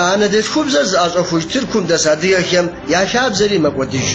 Я анэдэлъхубзэр зыӏэщӏэхуж Тыркум дэс адыгэхэм я хабзэри мэкӏуэдыж.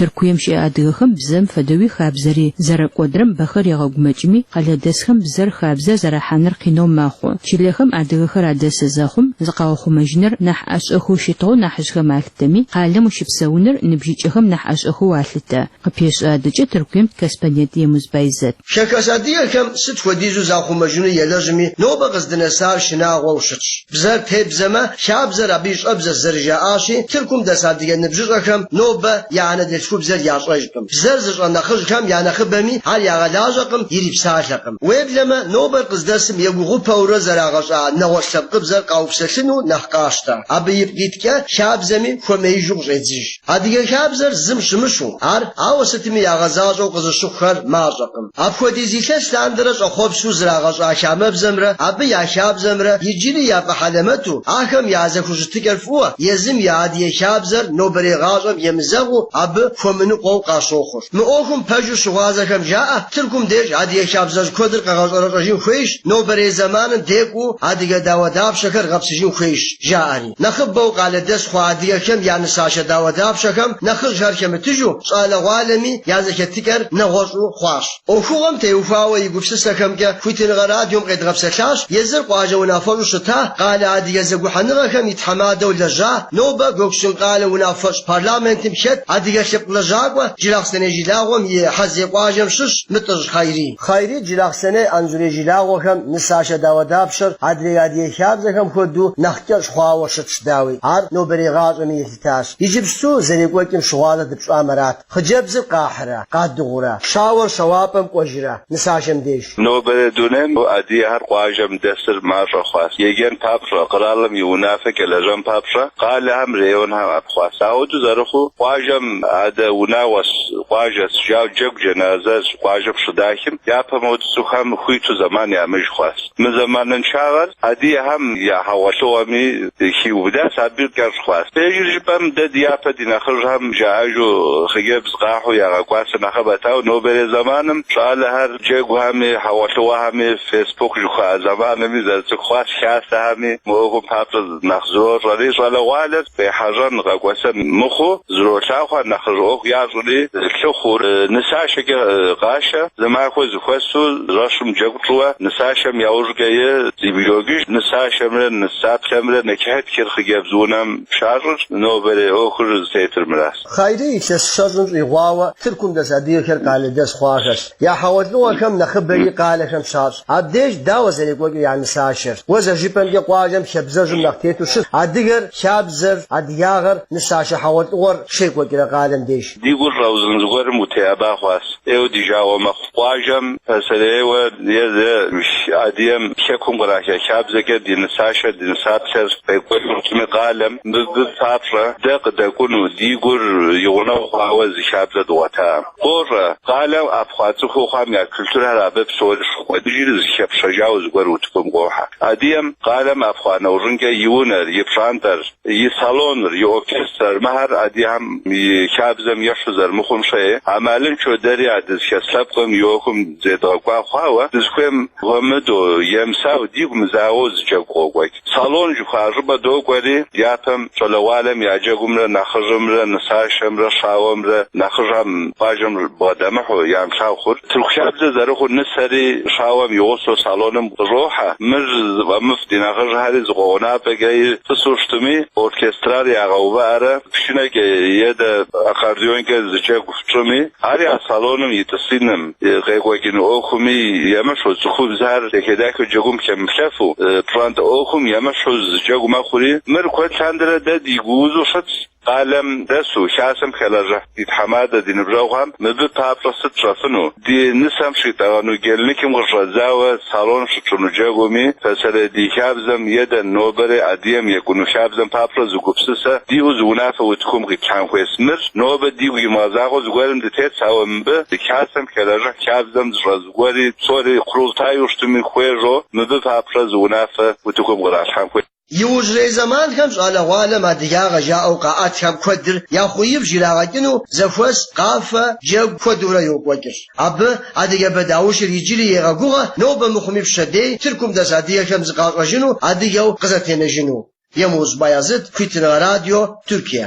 Тыркуем щыӏэ адыгэхэм бзэм фэдэуи хабзэри зэрэкӏуэдрэм бэхэр егъэгумэкӏми, къалэдэсхэм бзэр хабзэ зэрахьэныр къинэу мэхъу. Чылэхэм адыгэхэр адэсы зэхъум, зыкъаухъумэжыныр нэхъ ӏэщӏэхэу щытыгъэу нэхьыжьхэм а тэми, къалэм ущыпсэуныр ныбжьыкӏэхэм нэхъ ӏэщӏэхэу алъытэ, къыпещэ адэкӏэ Тыркуем ди корреспондент Емуз Байзэт. Хэхэс адыгэхэм сыт хуэдизу захъумэжыну елэжьми, нобэ къыздынэсар шынагъуэу щытщ. Бзэр тебзэмэ, хабзэр абы и щӏэбзэщ зэрыжаӏащи, Тыркум дэс адыгэ ныбжьыщӏэхэм нобэ я анэдэлъхубзэр ящӏэжкъым. Бзэр зыщӏэ нэхъыжьхэм я нэхъыбэми ар ягъэлажьэкъым, ирипсалъэкъым. Уеблэмэ, нобэр къыздэсым егугъупэурэ зэрагъэщӏа нэгъуэщӏ лъэпкъыбзэр къаупсэлъыну нэхъ къащтэ. Абы ипкъ иткӏэ хабзэми хуэмеижу къыщӏедзыж. Адыгэ хабзэр зым щымыщу, ар, ауэ сытми, ягъэзащӏэу къызыщыхъухэр мащӏэкъым. Апхуэдиз илъэс лъандэрэ щӏэхъуэпсу зрагъэщӏа хамэбзэмрэ абы я хабзэмрэ иджыри яфӏэхьэлэмэту, ахэм я зэхущытыкӏэр фӏыуэ, езым я адыгэ хабзэр нобэрей гъащӏэм емызэгъыу абы хуэмыныкъуэу къащохъур. Мы ӏуэхум пэжу щыгъуазэхэм жаӏэ, Тыркум деж адыгэ хабзэжь куэдыр къэгъэщӏэрэщӏэжын хуейщ, нобэрей зэманым декӏуу адыгэ дауэдапщэхэр гъэпсыжын хуейщ, жаӏэри. Нэхъыбэу къалэдэс хъуа адыгэхэм я нысашэ дауэдапщэхэм нэхъыжьхэр хэмытыжу, щӏалэгъуалэми я зэхэтыкӏэр нэгъуэщӏу хъуащ. ӏуэхугъуэм теухуауэ и гупсысэхэмкӏэ Хуитыныгъэ радиом къедгъэпсэлъащ езыр къуажэ унафэщӏу щыта, къалэ адыгэ зэгухьэныгъэхэм и тхьэмадэу лэжьа, нобэ Гоксун къалэ унафэщӏ. Парламентым хэт адыгэ лъэпкъ лэжьакӏуэ Джылахъсэней жылагъуэм и Хьэззей къуажэм щыщ Мытӏыжь Хайри. Хайри Джылахъсэней Анзурей жылагъуэхэм нысашэ дауэдапщэр адрей адыгэ хабзэхэм хуэдэу нэхъ кӏэщӏ хъуауэ щытщ, дауи, ар нобэрей гъащӏэми елъытащ. Иджыпсту зэрекӏуэкӏым щыгъуазэ дыпщӏамэ арат, хъыджэбзыр къахьрэ, къадыгъурэ, щауэр щэуапӏэм кӏуэжрэ, нысашэм деж. Нобэрей дунейм адыгэхэр къуажэм дэсыр мащӏэ хъуащ. Еджэн папщӏэ, къэралым и унафэкӏэ лэжьэн папщӏэ, къалэхэм, районхэм ӏэпхъуащ. Ахуэдэу зэрыхъуу, къуажэм адэ унагъуэщ, къуажэщ, жаӏэу джэгу, джэназэр къуажэм щыдахым, япэм хуэдэу цӏыхухэм хуиту зэман ямыӏэж хъуащ. Мы зэманыншагъэр адыгэхэм я хьэгъуэлӏыгъуэми хиубыдащ, абы кӏэщӏ хъуащ. Пэжыр жыпӏэм, дэ ди япэ ди нэхъыжьхэм жаӏэжу хъыджэбз Къахьу ягъэкӏуасэ нэхъыбэт, ауэ нобэрей зэманым щӏалэхэр джэгухэми, хьэгъуэлӏыгъуэхэми, фейсбук жыхуаӏэ зэмаными зэрыцӏыху хъуащ, хасэхэми. Мы ӏуэхум папщӏэ нэхъ зрощӏэри, щӏалэгъуалэр къехьэжьэн къэкӏуэсэн мыхъуу зролъагъу, нэхъыжь ӏуэху ящӏри лъыхъур. Нысашэкӏэ къашэ, зы махуэ зэхуэсу жэщым джэгу тщӏыуэ нысашэм яужькӏи зэбгрокӏыж, нысашэмрэ нысаплъэмрэ нэчыхьытхыр хъыджэбз унэм щащӏырщ, нобэрей ӏуэхур зытетыр мыращ. Хъайрий илъэс щэщӏым щӏигъуауэ Тыркум дэс адыгэхэр къалэдэс хъуахэщ. Я хьэгъуэлӏыгъуэхэм нэхъыбэри къалэхэм щащӏ. Абдеж дауэ зэрекӏуэкӏыр я нысашэр. Уэ зэжыпӏэмкӏэ къуажэм хабзэжьым нэхъ тету щыт адыгэр, хабзэр, адыгагъэр, нысашэ хьэгъуэлӏыгъуэр щекӏуэкӏрэ къалэм деж. Ди гур щӏэузын зыгуэрым утеӏэба хъуащ. ӏейуэ ди жагъуэ мэхъу. Къуажэм пасэрейуэ езы адыгэм Хэкум къраха хабзэкӏэ ди нысашэр, ди нысаплъэр къекӏуэкӏыркъыми къалэм. Мыбы папщӏэ дэ къыдэкӏуну ди гур и гъунэгъу хъуауэ зы хабзэ дгъуэтакъым. Къощӏэ, къалэм ӏэпхъуа цӏыхуу хъуам я культурхэр абы псори щокӏуэдыжри зыхэпщэжауэ зыгуэр утыкум къохьэ. Адыгэм къалэм ӏэпхъуа нэужьынкӏэ и унэр, и пщӏантӏэр, и салоныр, и оркестрар, мыхэр адыгэм и хабзэм ещхьу зэрымыхъум щхьэкӏэ амалынчэу дэри а дызыхес лъэпкъым и ӏуэхум зедгъэкӏуа хъуауэ, дызыхуейм хуэмыдэу, емысауэ, дигу мызагъэу зы джэгу къокӏуэкӏ. Салон жыхуаӏэ щӏыпӏэ докӏуэри, дяпэм щӏалэгъуалэм я джэгумрэ нэхъыжьымрэ нысашэмрэ щауэмрэ нэхъыжьхэм пащхьэм бгъэдэмыхьэу ямылъагъуу хъурт. Тырку хабзэ зэрыхъуу нысэри щауэм игъусэу салоным къыщӏохьэ. Мыр зыфӏэмыфӏ ди нэхъыжьхьэри зы къуэгъэнапӏэкӏэ и тӏысу щытми, оркестрар ягъэувыӏэрэ пшынэкӏэ е дэ аккордеонкӏэ зы джэгу тщӏыми, ар я салоным и тӏысиным, и къекӏуэкӏын ӏуэхуми емыщхьу, цӏыхубзхэр дахэ-дахэу джэгум хэмыплъэфу, пщӏантӏэ ӏуэхум емыщхьу зы джэгу мэхъури, мыр куэд лъандэрэ дэ ди гу узу щытщ. Къалэм дэсу, Хасэм хэлэжьыхь ди тхьэмадэ, ди ныбжьэгъухэм мыбы папщӏэ сыт тщӏэфыну? Ди нысэм щитӏэгъэну гельныкым къыщӏэдзауэ салон щытщӏыну джэгуми, пасэрей ди хабзэм е дэ нобэри адыгэм екӏуну хабзэм папщӏэ зы гупсысэ диӏэу зы унафэ утыкум къитлъхьэн хуейс? Мыр нобэ дигу имыгъэзагъэу зыгуэрым дытетщ, ауэ мыбы ди Хасэм хэлэжьыхь хабзэм зыщӏэ зыгуэри псори къурултайуэ щытми хуежьэу мыбы папщӏэ зы унафэ утыкум къыралъхьэн хуейщ. Иужьрей зэманхэм щӏалэгъуалэм адыгагъэ жаӏэу къаӏэтхэм куэдыр я хъуибж ирагъэкӏыну зэхуэс къафэ, джэгу куэдурэ йокӏуэкӏыр. Абы адыгэбэ даущыр иджыри егъэгугъэ нобэ мыхъуми пщэдей Тыркум дэс адыгэхэм зыкъащӏэжыну, адыгэу къызэтенэжыну. Емуз Баязыт, Хуитыныгъэ радио, Тыркие.